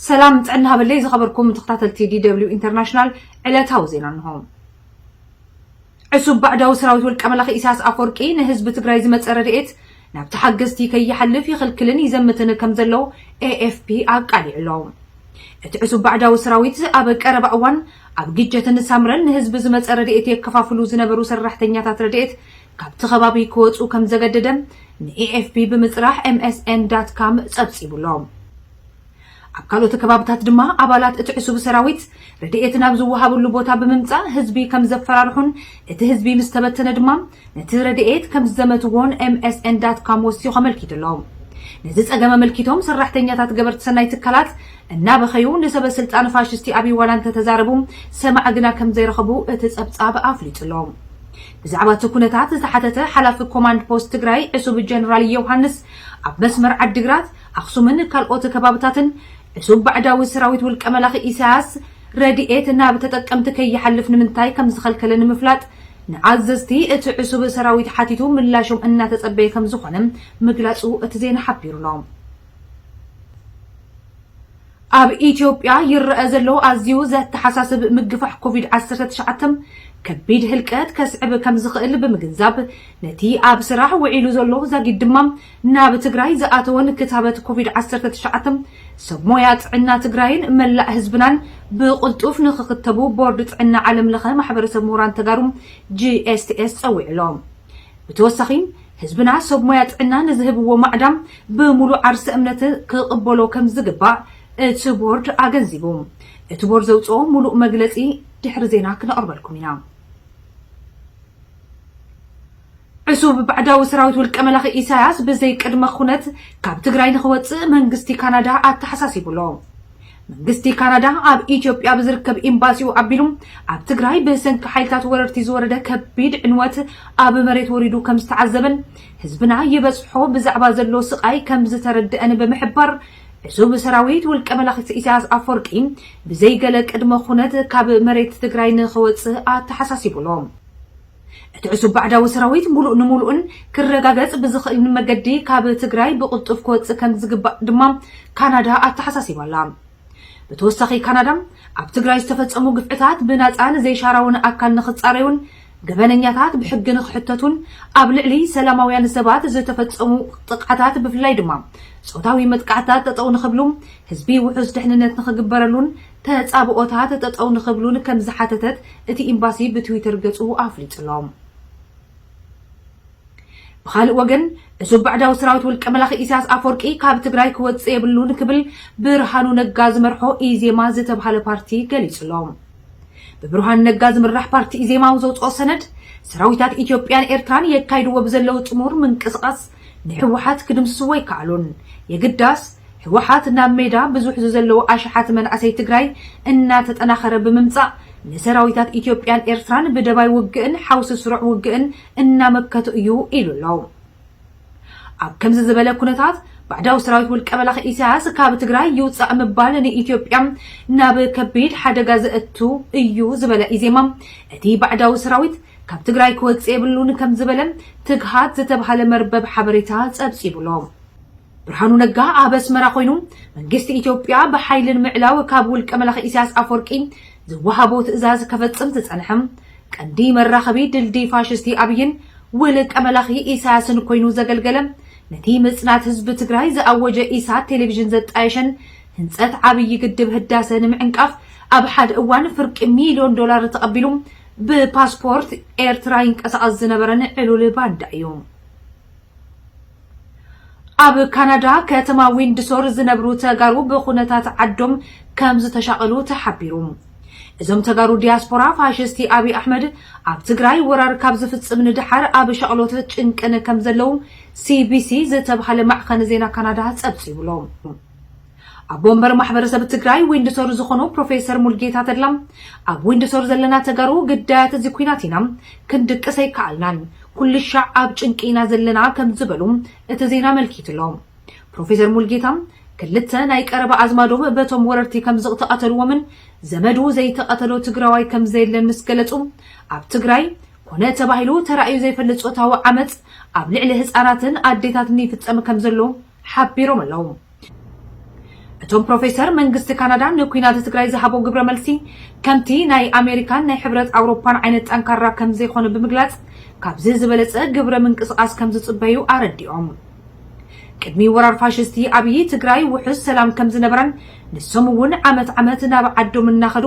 ሰላም ጥዕና ሃበለይ ዝኸበርኩም ተኸታተልቲ ዲደብሊው ኢንተርናሽናል ዕለታዊ ዜና እንሆ። ዕሱብ ባዕዳዊ ሰራዊት ውልቀ መላኺ ኢሳያስ ኣፈወርቂ ንህዝቢ ትግራይ ዝመፀ ረድኤት ናብ ተሓገዝቲ ከይሓልፍ ይኽልክልን ይዘምትን ከም ዘሎ ኤኤፍፒ ኣቃሊዑ ኣሎ። እቲ ዕሱብ ባዕዳዊ ሰራዊት ኣብ ቀረባ እዋን ኣብ ግጀትን ሳምረን ንህዝቢ ዝመፀ ረድኤት የከፋፍሉ ዝነበሩ ሰራሕተኛታት ረድኤት ካብቲ ከባቢ ክወጽኡ ከም ዘገደደ ንኤኤፍፒ ብምጽራሕ ኤምኤስኤን ዳት ካም ጸብጺቡ'ሎ። ኣብ ካልኦት ከባብታት ድማ ኣባላት እቲ ዕሱብ ሰራዊት ረድኤት ናብ ዝወሃበሉ ቦታ ብምምጻእ ህዝቢ ከም ዘፈራርሑን እቲ ህዝቢ ምስ ተበተነ ድማ ነቲ ረድኤት ከም ዝዘመትዎን ኤምኤስኤን ዳት ካም ወሲኹ ኣመልኪቱ'ሎ። ነዚ ጸገም ኣመልኪቶም ሰራሕተኛታት ገበርቲ ሰናይ ትካላት እናበኸዩ ንሰበ ስልጣን ፋሽስቲ ኣብይ ዋላ እንተተዛረቡ ሰማዒ ግና ከም ዘይረኸቡ እቲ ጸብጻብ ኣፍሊጡ'ሎ። ብዛዕባ እቲ ኩነታት ዝተሓተተ ሓላፊ ኮማንድ ፖስት ትግራይ ዕሱብ ጀነራል ዮውሃንስ፣ ኣብ መስመር ዓዲግራት፣ ኣኽሱምን ካልኦት ከባብታትን ዕሱብ ባዕዳዊ ሰራዊት ውልቀ መላኺ ኢሳያስ ረድኤት ናብ ተጠቀምቲ ከይሓልፍ ንምንታይ ከምዝኸልከለ ንምፍላጥ ንኣዘዝቲ እቲ ዕሱብ ሰራዊት ሓቲቱ ምላሾም እናተጸበየ ከምዝኾነ ምግላጹ እቲ ዜና ሓቢሩ'ሎ። ኣብ ኢትዮጵያ ይረኣ ዘሎ ኣዝዩ ዘተሓሳስብ ምግፋሕ ኮቪድ ዓሰርተ ትሽዓተ ከቢድ ህልቀት ከስዕብ ከምዝኽእል ብምግንዛብ ነቲ ኣብ ስራሕ ውዒሉ ዘሎ ዛጊድ ድማ ናብ ትግራይ ዝኣተወን ክታበት ኮቪድ ዓሰርተ ትሽዓተ ሰብ ሞያ ጥዕና ትግራይን መላእ ህዝብናን ብቕልጡፍ ንኽኽተቡ ቦርድ ጥዕና ዓለምለኸ ማሕበረሰብ ምሁራን ተጋሩ፣ GSTS፣ ፀዊዑ ኣሎ። ብተወሳኺ ህዝብና ሰብ ሞያ ጥዕና ንዝህብዎ ማዕዳ ብሙሉእ ዓርሰ እምነት ክቕበሎ ከምዝግባእ እቲ ቦርድ ኣገንዚቡ። እቲ ቦርድ ዘውፅኦ ሙሉእ መግለፂ ድሕሪ ዜና ክነቕርበልኩም ኢና። ዕሱብ ባዕዳዊ ሰራዊት ውልቀ መላኺ ኢሳያስ ብዘይ ቅድመ ኹነት ካብ ትግራይ ንኽወፅእ መንግስቲ ካናዳ ኣተሓሳሲቡ ኣሎ። መንግስቲ ካናዳ ኣብ ኢትዮጵያ ብዝርከብ ኤምባሲኡ ኣቢሉ ኣብ ትግራይ ብሰንኪ ሓይልታት ወረርቲ ዝወረደ ከቢድ ዕንወት ኣብ መሬት ወሪዱ ከም ዝተዓዘበን ህዝብና ይበፅሖ ብዛዕባ ዘሎ ስቓይ ከም ዝተረደኣን ብምሕባር ዕሱብ ሰራዊት ውልቀ መላኺ ኢሳያስ ኣፈወርቂ ብዘይገለ ቅድመ ኩነት ካብ መሬት ትግራይ ንኽወፅእ ኣተሓሳሲቡ ኣሎ። እቲ ዕሱብ ባዕዳዊ ሰራዊት ሙሉእ ንሙሉእን ክረጋገፅ ብዝኽእል መገዲ ካብ ትግራይ ብቕልጡፍ ክወፅእ ከምዝግባእ ድማ ካናዳ ኣተሓሳሲባ ኣላ። ብተወሳኺ ካናዳ ኣብ ትግራይ ዝተፈፀሙ ግፍዕታት ብናፃን ዘይሻራውን ኣካል ንኽፃረዩን ገበነኛታት ብሕጊ ንኽሕተቱን ኣብ ልዕሊ ሰላማውያን ሰባት ዝተፈፀሙ ጥቕዓታት ብፍላይ ድማ ፆታዊ መጥቃዕትታት ጠጠው ንኽብሉ ህዝቢ ውሑስ ድሕንነት ንኽግበረሉን ተጻብኦታት ጠጠው ንኽብሉን ከምዝሓተተት እቲ ኤምባሲ ብትዊተር ገጹ ኣፍሊጡ'ሎ። ብኻልእ ወገን ዕሱብ ባዕዳዊ ሰራዊት ውልቀ መላኺ ኢሳያስ ኣፈወርቂ ካብ ትግራይ ክወጽእ የብሉን ክብል ብርሃኑ ነጋ ዝመርሖ ኢዜማ ዝተብሃለ ፓርቲ ገሊጹ'ሎ። ብብርሃኑ ነጋ ዝምራሕ ፓርቲ ኢዜማ ኣብ ዘውጽኦ ሰነድ ሰራዊታት ኢትዮጵያን ኤርትራን የካይድዎ ብዘለው ጥሙር ምንቅስቓስ ንሕወሓት ክድምስስዎ ኣይከኣሉን። የግዳስ ሕወሓት ናብ ሜዳ ብዙሕ ዝዘለዉ ኣሽሓት መናእሰይ ትግራይ እናተጠናኸረ ብምምፃእ ንሰራዊታት ኢትዮጵያን ኤርትራን ብደባይ ውግእን ሓውሲ ስሩዕ ውግእን እናመከቱ እዩ ኢሉ ኣሎ። ኣብ ከምዚ ዝበለ ኩነታት ባዕዳዊ ሰራዊት ውልቀ መላኺ ኢሳያስ ካብ ትግራይ ይውፃእ ምባል ንኢትዮጵያ ናብ ከቢድ ሓደጋ ዘእቱ እዩ ዝበለ ኢዜማ እቲ ባዕዳዊ ሰራዊት ካብ ትግራይ ክወፅእ የብሉን ከምዝበለ ትግሃት ዝተብሃለ መርበብ ሓበሬታ ፀብፂቡ'ሎ። ብርሃኑ ነጋ ኣብ ኣስመራ ኮይኑ መንግስቲ ኢትዮጵያ ብሓይሊ ንምዕላው ካብ ውልቀ መላኺ ኢሳያስ ኣፍወርቂ ዝወሃቦ ትእዛዝ ከፈፅም ዝፀንሐ ቀንዲ መራኸቢ ድልድይ ፋሽስቲ ኣብይን ውልቀ መላኺ ኢሳያስን ኮይኑ ዘገልገለ ነቲ ምፅናት ህዝቢ ትግራይ ዝኣወጀ ኢሳት ቴሌቪዥን ዘጣየሸን ህንፀት ዓብዪ ግድብ ህዳሰ ንምዕንቃፍ ኣብ ሓደ እዋን ፍርቂ ሚልዮን ዶላር ተቐቢሉ ብፓስፖርት ኤርትራ ይንቀሳቐስ ዝነበረን ዕሉል ባንዳ እዩ። ኣብ ካናዳ ከተማ ዊንድሶር ዝነብሩ ተጋሩ ብኩነታት ዓዶም ከም ዝተሻቐሉ ተሓቢሩ። እዞም ተጋሩ ዲያስፖራ ፋሽስቲ ኣብይ ኣሕመድ ኣብ ትግራይ ወራር ካብ ዝፍጽም ንደሓር ኣብ ሻቕሎትን ጭንቅን ከም ዘለዉ ሲቢሲ ዝተብሃለ ማዕኸን ዜና ካናዳ ጸብጺቡ'ሎ። ኣቦ ወንበር ማሕበረሰብ ትግራይ ዊንድሶር ዝኾኑ ፕሮፌሰር ሙልጌታ ተድላ ኣብ ዊንድሶር ዘለና ተጋሩ ግዳያት እዚ ኩናት ኢና ክንድቅስ ኣይከኣልናን ኩልሻዕ ኣብ ጭንቂ ኢና ዘለና ከም ዝበሉ እቲ ዜና ኣመልኪቱ ኣሎ ፕሮፌሰር ሙልጌታ ክልተ ናይ ቀረባ ኣዝማዶም በቶም ወረርቲ ከም ዝቕተቐተልዎምን ዘመዱ ዘይተቐተሎ ትግራዋይ ከም ዘየለን ምስ ገለጹ ኣብ ትግራይ ኮነ ተባሂሉ ተራእዩ ዘይፈልጥ ጾታዊ ዓመፅ ኣብ ልዕሊ ህፃናትን ኣዴታትን ይፍፀም ከም ዘሎ ሓቢሮም ኣለዉ። እቶም ፕሮፌሰር፣ መንግስቲ ካናዳ ንኲናት ትግራይ ዝሃቦ ግብረ መልሲ ከምቲ ናይ ኣሜሪካን ናይ ሕብረት ኣውሮፓን ዓይነት ጠንካራ ከምዘይኮነ ብምግላፅ ካብዚ ዝበለፀ ግብረ ምንቅስቓስ ከምዝፅበዩ ኣረዲኦም። ቅድሚ ወራር ፋሽስቲ ኣብዪ ትግራይ ውሑስ ሰላም ከምዝነበረን ንሶም እውን ዓመት ዓመት ናብ ዓዶም እናኸዱ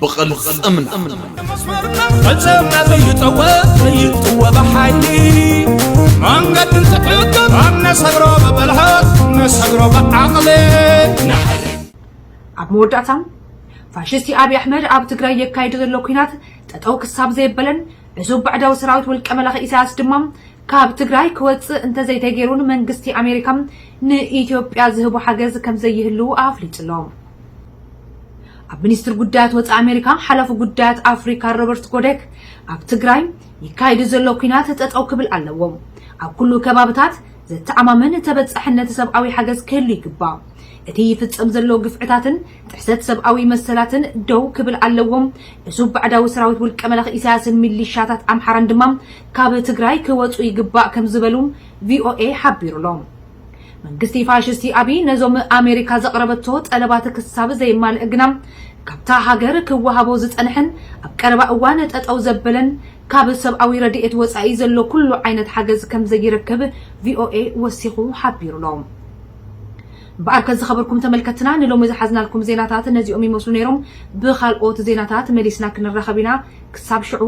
ብቕልጽምና ፈጸምና ዘይጠወት ዘይጥወ ብሓይሊ መንገዲ እንትሕግር ኣብ ነሰግሮ ብብልሃት ነሰግሮ ብዓቕሊ ኣብ መወዳእታ ፋሽስቲ ኣብዪ ኣሕመድ ኣብ ትግራይ የካይዶ ዘሎ ኩናት ጠጠው ክሳብ ዘየበለን ዕሱብ ባዕዳዊ ሰራዊት ውልቀ መላኺ ኢሳያስ ድማ ካብ ትግራይ ክወፅእ እንተዘይተገይሩ ንመንግስቲ ኣሜሪካ ንኢትዮጵያ ዝህቦ ሓገዝ ከምዘይህልው ኣፍሊጡ ኣሎ ኣብ ሚኒስትሪ ጉዳያት ወፃኢ ኣሜሪካ ሓላፊ ጉዳያት ኣፍሪካ ሮበርት ጎደክ ኣብ ትግራይ ይካየዱ ዘሎ ኩናት ጠጠው ክብል ኣለዎ፣ ኣብ ኩሉ ከባብታት ዘተኣማምን ተበፃሕነት ሰብኣዊ ሓገዝ ክህሉ ይግባእ፣ እቲ ይፍፀም ዘሎ ግፍዕታትን ጥሕሰት ሰብኣዊ መሰላትን ደው ክብል ኣለዎ፣ እሱብ ባዕዳዊ ሰራዊት ውልቀ መላኺ ኢሳያስን ሚሊሻታት ኣምሓራን ድማ ካብ ትግራይ ክወፁ ይግባእ ከምዝበሉ ቪኦኤ ሓቢሩሎ። መንግስቲ ፋሽስቲ ኣብይ ነዞም ኣሜሪካ ዘቕረበቶ ጠለባት ክሳብ ዘየማልእ ግና ካብታ ሃገር ክወሃቦ ዝጸንሐን ኣብ ቀረባ እዋን ጠጠው ዘበለን ካብ ሰብኣዊ ረድኤት ወጻኢ ዘሎ ኩሉ ዓይነት ሓገዝ ከምዘይረክብ ቪኦኤ ወሲኹ ሓቢሩ'ሎ። እምበኣርከ ዝኸበርኩም ተመልከትና ንሎሚ ዝሓዝናልኩም ዜናታት ነዚኦም ይመስሉ ነይሮም። ብኻልኦት ዜናታት መሊስና ክንራኸብ ኢና። ክሳብ ሽዑ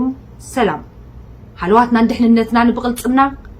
ሰላም። ሃለዋትናን ድሕንነትናን ብቕልጽምና